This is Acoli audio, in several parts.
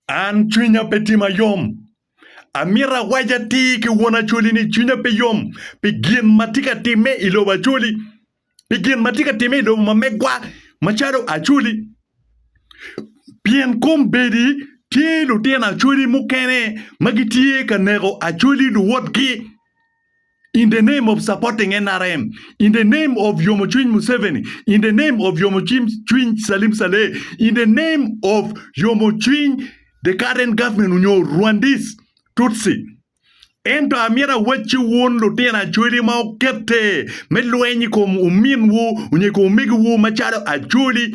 An cwinya pe tye mayom. Amito awac atir ki won Acholi ni cwinya pe yom pi gin ma tye ka timme i lobo Acholi, pi gin ma tye ka timme i lobo ma megwa macalo Acholi. Pien kombeddi tye lutino Acholi mukene ma gitye ka neko Acholi luwotgi. in the name of supporting nrm, in the name of yomo cwiny Museveni, in the name of yomo cwiny Salim Saleh, in the name of yomo cwiny the current government onyo Rwandese Tutsi. Ento amyero awacci ci wun lutino Acholi ma okete me lweny i kom ominwu onyo i kom omegiwu macalo Acholi,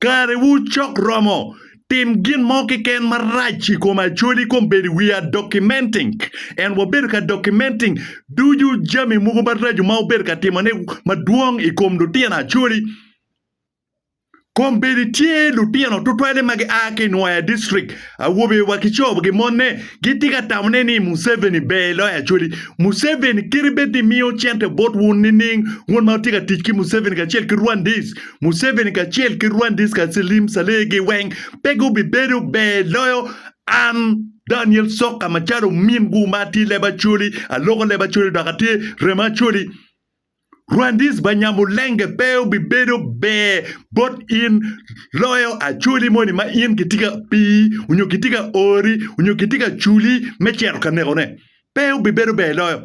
Karewu cok romo. Tim gin mo keken marac i kom Acholi kong bed i wiya documenting and wabedo ka documenting ducu jami mogo maraco ma wubedo ka timone madwong i kom lutino Acholi. Kong bedi tye lutino tutwale ma gia ki i Nwoya district, awobe wa ki co gi mone, gitye ka tamone ni Museveni ber loyo Acholi. Museveni kite bed ni miyo cente botwu nining un ma wutye ka tic ki Museveni kacel ki Rwandese Museveni kacel ki Rwandese ka Salim Saleh gi weng pe gubibedo ber loyo an Daniel Soka macalo min gu ma atye leb Acholi, aloko leb Acholi dok atye remo Acholi. Rwandese ba Nyamulenge pe obibedo ber bot in loyo Acholi moni ma in kitye ka pii onyo kitye ka ori onyo kitye ka culi me cito ka neko ne. Pe obibedo ber loyo.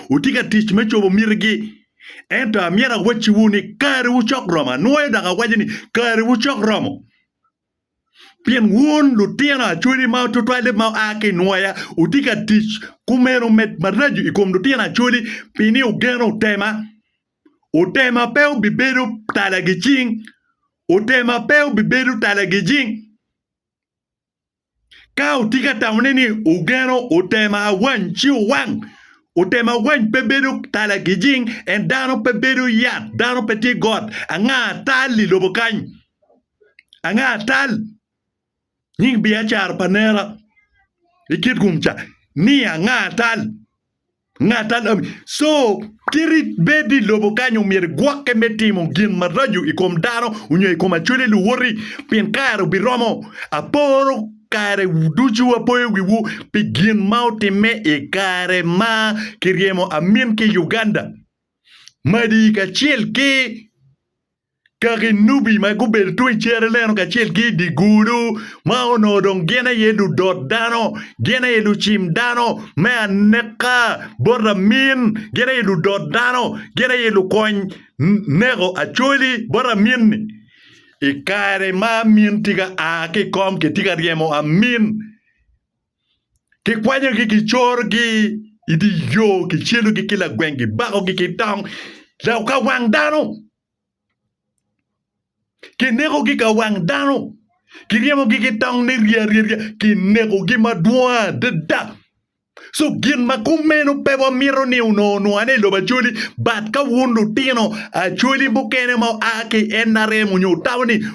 wutye ka tic me cobo mitigi. Ento amyero awacciwu ni karewu cok romo, anwoyo dok awaco ni karewu cok romo, pien wun lutino acwali ma tutwalle ma oa ki i nwoya wutye ka tic kumeno med maraco i kom lutino acwali pi ni wugeno otema. Otema pe obibedo tala gicing, otema pe obibedo tala gijing. Ka wutye ka tamone ni wugeno otema awany ci wuwang. Otema awany pe bedo tala gijing, en dano pe bedo yat, dano pe tye got. Anga atal i lobo kany? Anga atal? Nying Biacara pa nera i Kitgum ca ni anga atal? Ngat alam. Co kiti bed i lobo kany omyero igwokke me timo gin maraco i kom dano onyo i kom acwele luwoti, pien kare obiromo. Aporo kare ducu apoyo wiwu pi gin ma otimme i kare ma kiryemo amin ki Uganda madi kacel ki. Ka ginubi ma gubedo tung i cere neno kacel ki i dye gudo ma onongo dong gin aye ludot dano, gin aye lucim dano me aneka bot lamin, gin aye ludot dano, gin aye lukony neko Acholi bot lamin-ni. I kare ma amin tye ka a ki i kom kitye ka ryemo amin. Kikwanyogi, kicorogi i dye yo, kicyelogi ki lagweng, kibakogi ki tong ka wang dano, kinekogi ka wang dano, kiryemogi ki tong niryenyerye, kinekogi madwong adada. Ci gin ma kumeno pe wamito ni onongo nwaane i lobo Acholi bat ka wun lutino Acholi mukene ma oa ki NRM onyo tamo ni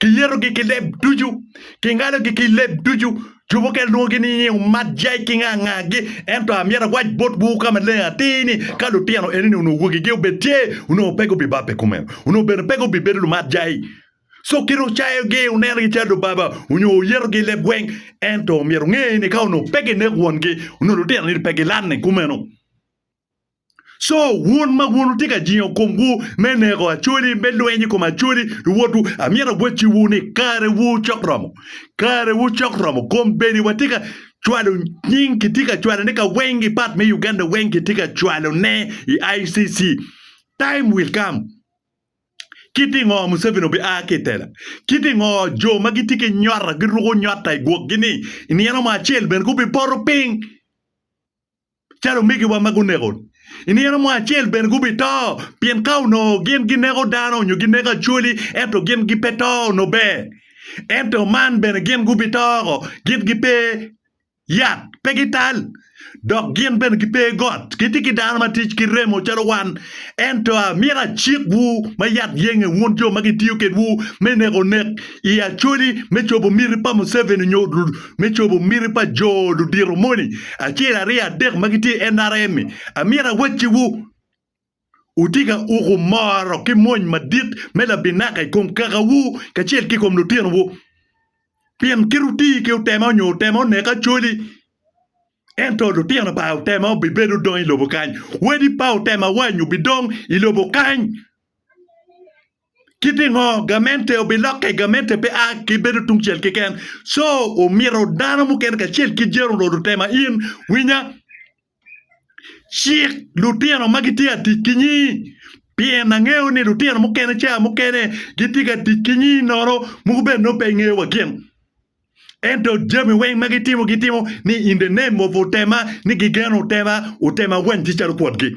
Kiyetogi ki leb ducu, kingalogi ki leb ducu. Jo mukene lwongogi ni nyiu mat jai ki nga ngagi. Ento amyero awac botwu ka maleng atir ni, ka lutino enoni onongo wogigi obed tye, onongo pe gubibabbe kumeno, onongo bene pe gubibedo lumat jai. Co kit ocayogi, onenogi calo lubaba, onyo oyetogi i leb gweng. Ento myero wunge ni ka onongo pe gineko wongi, onongo lutino-ni pe gilanne kumeno. Co wun ma wun wutye ka jingo komwu me neko Acholi, me lweny i kom Acholi, luwotwu, amyero agwocciwu ni karewu cok romo. Karewu cok romo. Kombeddi watye ka cwalo nying, kitye ka cwalone ka weng i pat me Uganda weng, kitye ka cwalone i ICC. Time will come. Kit i ngo Museveni obia ki i tela? Kit i ngo jo ma gitye ki nyota giruko nyota i gwokgi-ni i nino mo acel bene gubipoto piny? calo omigiwa ma guneko. I nino mo acel bene gubito, pien ka onongo gin gineko dano nyo gineko acholi, ento gin gipe to onongo ber. Ento man bene gin gubito oko, gin gipe yat, pe gital, dok gin bene gipe got. Gitye ki dano ma tic ki remo calo wan. Ento amito acikwu ma yat yenge, wun jo ma kitiyo kedwu me neko nek i acholi me cobo miti pa Museveni nyo me cobo miti pa jo ludito moni acel aryo adek ma gitye i NRM-mi, amyero awacciwu, wutye ka uko moro ki mony madit me labinaka i kom kakawu kacel ki i kom lutinowu. Pien kit wuti ki otema onyo otema onek acoli, ento lutino pa otema obibedo dong i lobo kany, wadi pa otema wany obidong i lobo kany. Ki pingo gamente obilokke? Gamente pe a ki bedo tungcel keken, co omito dano mukene kacel ki jeri onongo tema in. Winya, cik lutino ma gitye ka tic ki nyi, pien angeyo ni lutino mukene ca mukene gitye ka tic ki nyi nono mogo bene nongo pe ingeyo wa gin. Ento jami weng ma gitimo gitimo ni in the name of otema ni gigeno otema, otema wanygi calo kwotgi.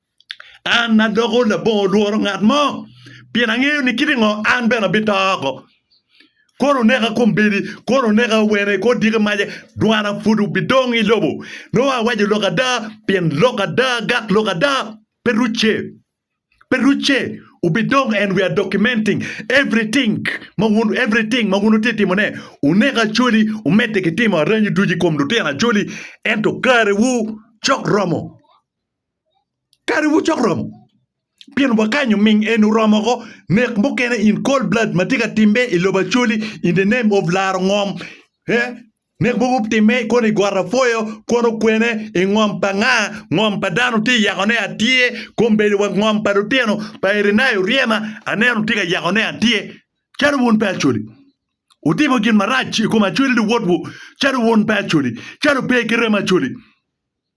An adoko labongo lworo ngat mo, pien angeyo ni kit i ngo an bene abito oko. Kono oneka kombeddi, kono oneka wene, kono odiki mace, dwana pud obidong i lobo. Nongo awaco lok ada, pien lok ada gat lok ada pe rucce, pe rucce. Wubidong and we are documenting everything ma wun everything ma wun wutye ka timone. Wunek Acholi, wumedde ki timo aranyu ducu i kom lutino Acholi, ento karewu cok romo. Kare mogo cok romo pien wakanyo ming en oromo woko nek mukene in cold blood matye ka timme i lobo Acholi in the name of laro ngom eh nek mogo timme kono i got apwoyo kono kwene i ngom pa nga ngom pa dano tye yako ne atyer kombeddi wa ngom pa lutino pa Irinayo Oryema aneno tye ka yako ne atyer calo wun pe Acholi wutimo gin marac i kom Acholi luwotwu calo wun pe Acholi calo pe ki remo Acholi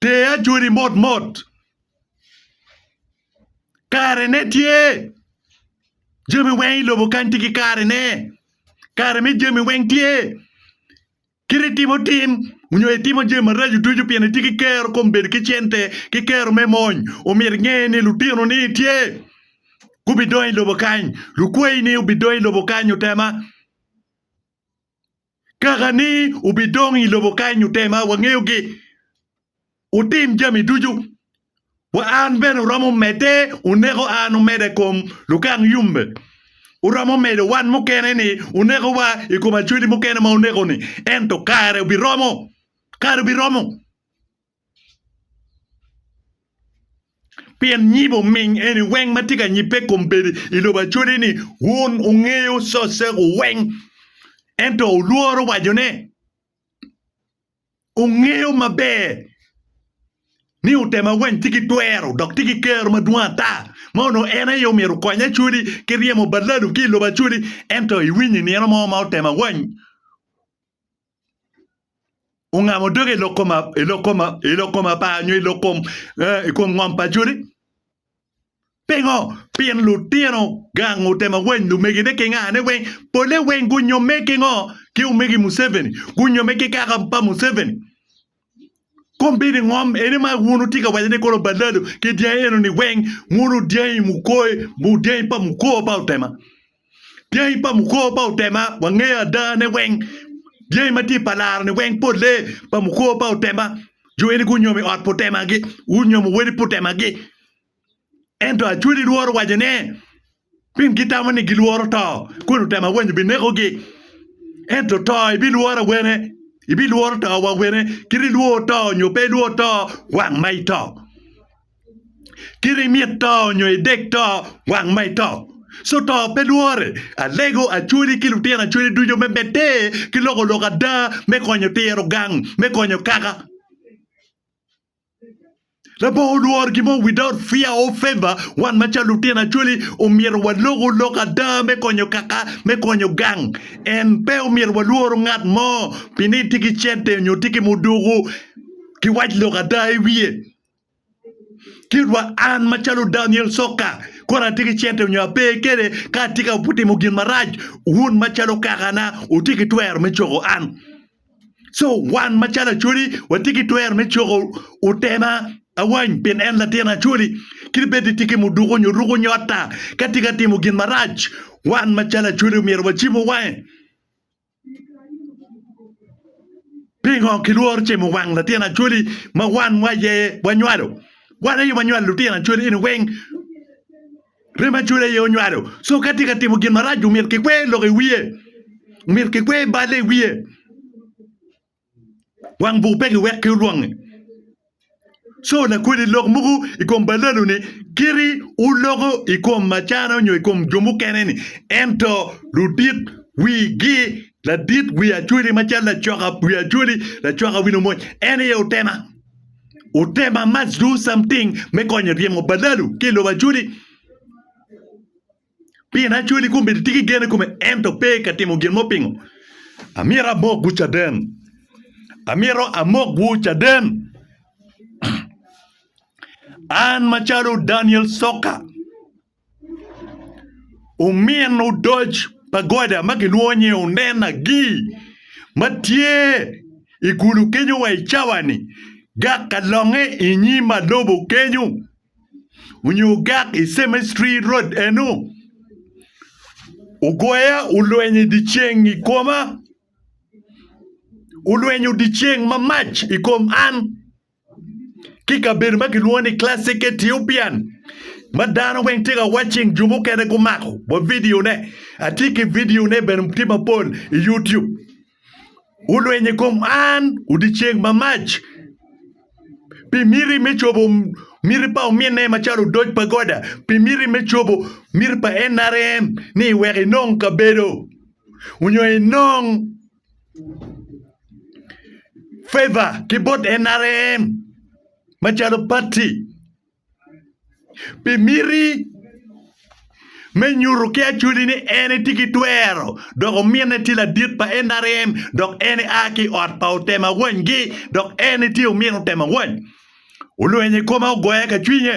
Ter ajoli motmot. Karene tye. Jami weng i lobo kany tye ki karene. Kare me jami weng tye. Kit itimo tim nyo itimo jami maraco ducu pien itye ki kero kom bedo ki cente ki kero me mony, omyero inge ni lutinoni tye gubidongo i lobo kany. Lukwayi-ni gubidongo i lobo kany, otema. Kaka ni wubidong i lobo kany ote ma wangeyogi, wutim jami ducu, wa an bene wuromo medde wuneko an wumeda i kom lukang yumbe, wuromo medo wan mukene ni wuneko wa i kom acweli mukene ma wuneko-ni, ento kare biromo, kare biromo. Pien nyibo oming eni weng ma tye ka nyibbe i kom bedo i lobo acwali ni, Wun wungeyo cocego weng, ento wulworo wacone. Wungeyo maber ni otema weng tye ki twero dok tye ki kero madwong ata, ma onongo en aye omyero okony acwali ki ryemo balladu ki i lobo acwali, ento iwinyo i nino mo ma otema weng. ongamo doge i lok koma i lok koma i lok koma pa nyo i lok kom eh, i kom ngom pa Jodi? Pingo? Pien lutino gang otemo weny lumegine ki ngane weng, pole weng gunyomme ki ngo? Ki omegi Museveni, gunyomme ki kaka pa Museveni. Kombeddi ngom eni ma wun wutye ka waco ni kono balado ki dyangi eno ni weng muno dyangi mukoe mu dyangi pa mukor pa otema. Dyangi pa mukor pa otema wangeyo ada ne weng dyangi ma tye pa laro ni weng pole pa mukor pa otema. Jo eni gunyomo i ot pa otema gi, gunyomo wadi pa otema gi. Ento achwodi lworo waco ne, pien gitamo ni gilworo to, kun otemo awenyo binekogi. Ento to ibilworo awene, ibilworo to wa wene, kit ilwor to nyo pe ilwor to, wang ma ito. Kit imit to nyo idek to, wang ma ito. So to pe lwore, alego achwodi ki lutino achwodi ducu me bed-de ki loko lok ada me konyo tiro gang me konyo kaka. Labongo olworo gin mo without fear or favor. Wan macalo lutino Acholi omyero walok olok ada me konyo kaka, me konyo gang. En pe omyero walworo ngat mo pi ni tye ki cente nyo tye ki muduku ki wac lok ada i wiye. Kitwa an macalo Daniel Sokka kore atye ki cente nyo ape kede ka atye ka timo gin marac wun macalo kakana wutye ki twero me coko an. Co wan macalo Acholi watye ki twero me coko otema awany pien en latin Acholi kadi bed ni tye ki muduku nyo ruko nyo ata ka tye ka timo gin marac wan macalo Acholi omyero wacibu wange. Pingo kilworo cimo wang latin Acholi ma wan wa aye wanywalo? Wan aye wanywalo lutino Acholi eni weng. Rem acwele aye onywalo. So ka tye ka timo gin marac omyero kikwer lok i wiye. Omyero kikwer balle i wiye. Wang buk pe kiwekki olwonge. So lakweli lok mogo i kom ballalo-ni kiti oloko i kom macana onyo i kom jo mukene-ni. Ento ludit wigi ladit wi acweli macalo lacoka wi acweli, lacoka wi lumony en aye otema. Utem I must do something me konyo ryemo badalu ki lobo Acholi pien Acholi kombeddi tye ki gen I kome ento pe ka timo gin mo pingo amyero amokwu caden amyero amokwu caden an macalo Daniel Soka. Omin odoc pa goda ma kilwongo ni Onen Agee ma tye i kulu kenyo wa i cawani gak ka longe i nyim malobo kenyo onyo gak i cemetery road eno ogoya olweny i dye ceng i koma olwenyo dyeceng mamac i kom an. ki kabedo ma kilwongo ni classic Ethiopian ma dano weng tye ka watching jo mukene gumako wa videone atye ki videone bene tye mapol i YouTube olweny i kom an odyenceng mamac pi miti me cobo miti pa ominne macalo odoc pa Goda pi miti me cobo miti pa NRM ni wek inong kabedo onyo inong favor ki bot NRM macalo pati pi miti me nyuto ki acwali ni en tye ki twero dok ominne tye ladit pa NRM dok en a ki i ot pa otemo awanygi dok en tye omin otemo awany olwenyo i kome ogoya ka cwinye.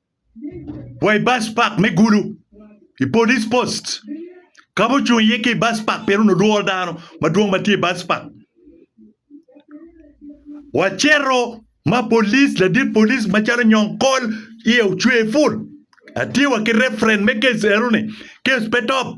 wa i bas pak me Gulu i Police Post ka ma ocung iye ki i bas pak pien onongo lworo dano madwong ma tye i bas pak. Wacito ma police ladit police macalo Nyong Kol iye ocwer pul. Atye wa ki reference me case eno ni, case pe top.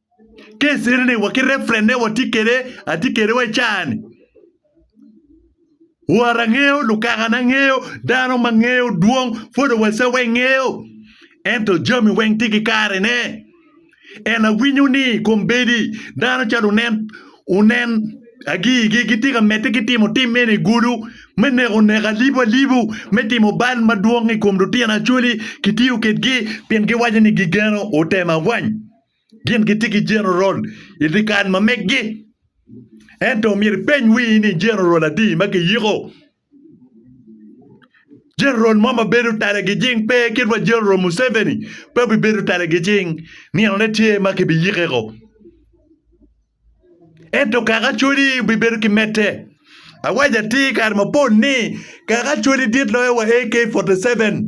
Kesere ni wa ki reference ne wa tye kede atye kede wa cani. Wara ngeyo lukaka na ngeyo dano ma ngeyo dwong photo wa sa weng ngeyo. Ento jami weng tye ki kare ne. En awinyo ni kombedi dano calo unen unen agii gi gitye ka mete ki timo tim mene i gudu me neko neko alibu alibu me timo bal madwong i kom lutino acoli ki tiyo ked gi pien gi waco ni gi geno otem awany. Gin gitye ki jenerol i dyekal ma meggi. Ento myero ipeny wii ni jenerol adi ma kiyiko? Jenerol mo ma bedo tala gijing pe kit wa jenerol Museveni pe obibedo tala gijing ninone tye ma kibiyikeko. Ento kaka Acholi obibedo ki medde. Awaco atir kare mapol ni kaka Acholi dit loyo wa AK-47.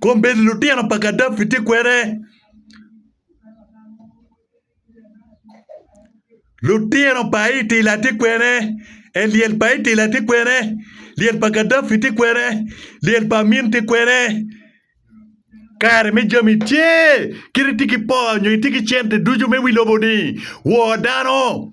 Kombeddi lutino pa Gaddafi tye kwede. Lutino pa Itila tye kwede. Elyel pa Itila tye kwede. Lyel pa Gaddafi tye kwede. Lyel pa Amin tye kwede. Kare me jami tye. Kit itye ki poo nyo itye ki cente ducu me wi lobo-ni, wor dano.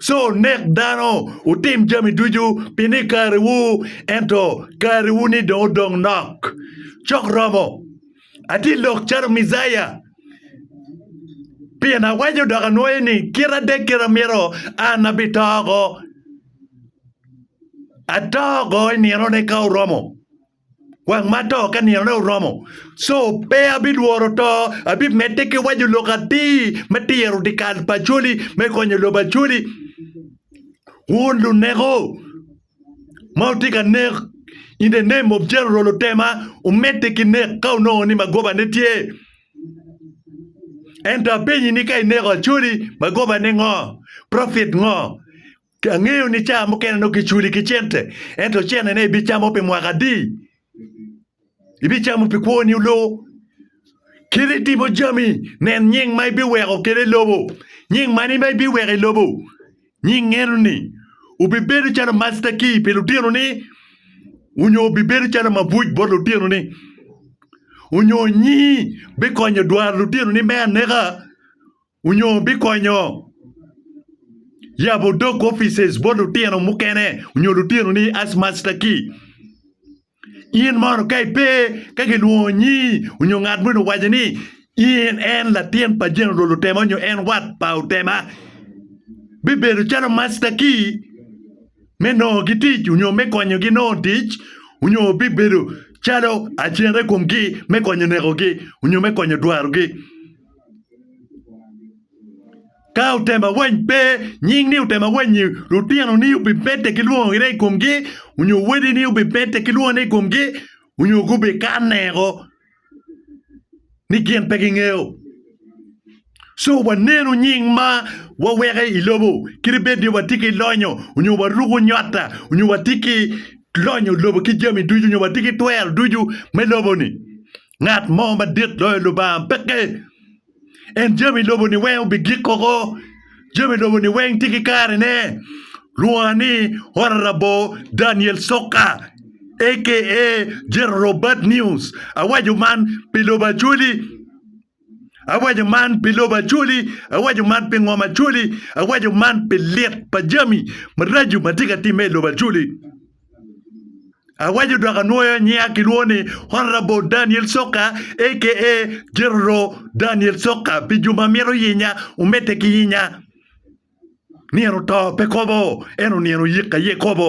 ci onek dano, wutim jami ducu pi ni kariwu, ento kariwu-ni dong odong nok. Cok romo, atye lok calo Mejaya. Pien awaco dok anwoyo ni, kite adek kite amito, an abito oko. Ato oko i ninone ka oromo. wang mato ka ninone oromo co pe abidworo to abimedde ki waco lok atir me tiro dikal pa coli me konyo lobo coli wun luneko ma wutye ka nek in the name of general otema omedde ki nek ka onongo ni magoba ne tye ento apenyi ni ka ineko acoli magoba ne ngo profit ngo. Angeyo ni cawa mukene nongo kiculi ki cente, ento cene ne ibicamo pi mwaka adi? Ibicamo pi kwoni oloo? Kit itimo jami, nen nying ma ibiweko kede i lobo. Nying mani ma ibiweko i lobo? Nying eno-ni obibedo calo master key pi lutinoni, onyo obibedo calo mabuc bot lutinoni? Onyo nyingi bikonyo dwaro lutinoni me aneka? Onyo bikonyo yabo dog offices bot lutino mukene onyo lutino ni as master key. In mono ka ipe ka gilwongo nyii onyo ngat moni owaco ni in en latin pa General Otema onyo en wat pa Otema, bibedo calo master key me nongo gi tic onyo me konyo gi nongo tic onyo bibedo calo agent i kom gi me konyo neko gi onyo me konyo dwaro gi. Ka otemawany pe, nying ni otemawany-nyi, lutinoni obimedde ki lwongo gire i komgi, onyo wadini obimedde ki lwongo ne i komgi, onyo gubikanne o ni gin pe gingeyo. Co wanenu nying ma waweko i lobo, kadi bed ni watye ki lonyo, onyo waruko nywata, onyo watye ki lonyo lobo ki jami ducu, onyo watye ki twero ducu me lobo-ni. Ngat mo madit loyo Lubanga peke. En jami lobo-ni weng obigik koko. Jami lobo-ni weng tye ki karene. Lwonga ni Ora Rabor Daniel Soka aka General Bad News. Awaco man pi lobo Acholi, awaco man pi lobo Acholi, awaco man pi ngom Acholi, awaco man pi lit pa jami maraco ma tye ka timme i lobo Acholi. Awaco dok anwoyo nyiya kilwongo ni Honourable Daniel Soka aka General Daniel Soka pi jo ma mito yinya omedde ki yinya. Nino oto pe kobo, ento nino oyik aye kobo.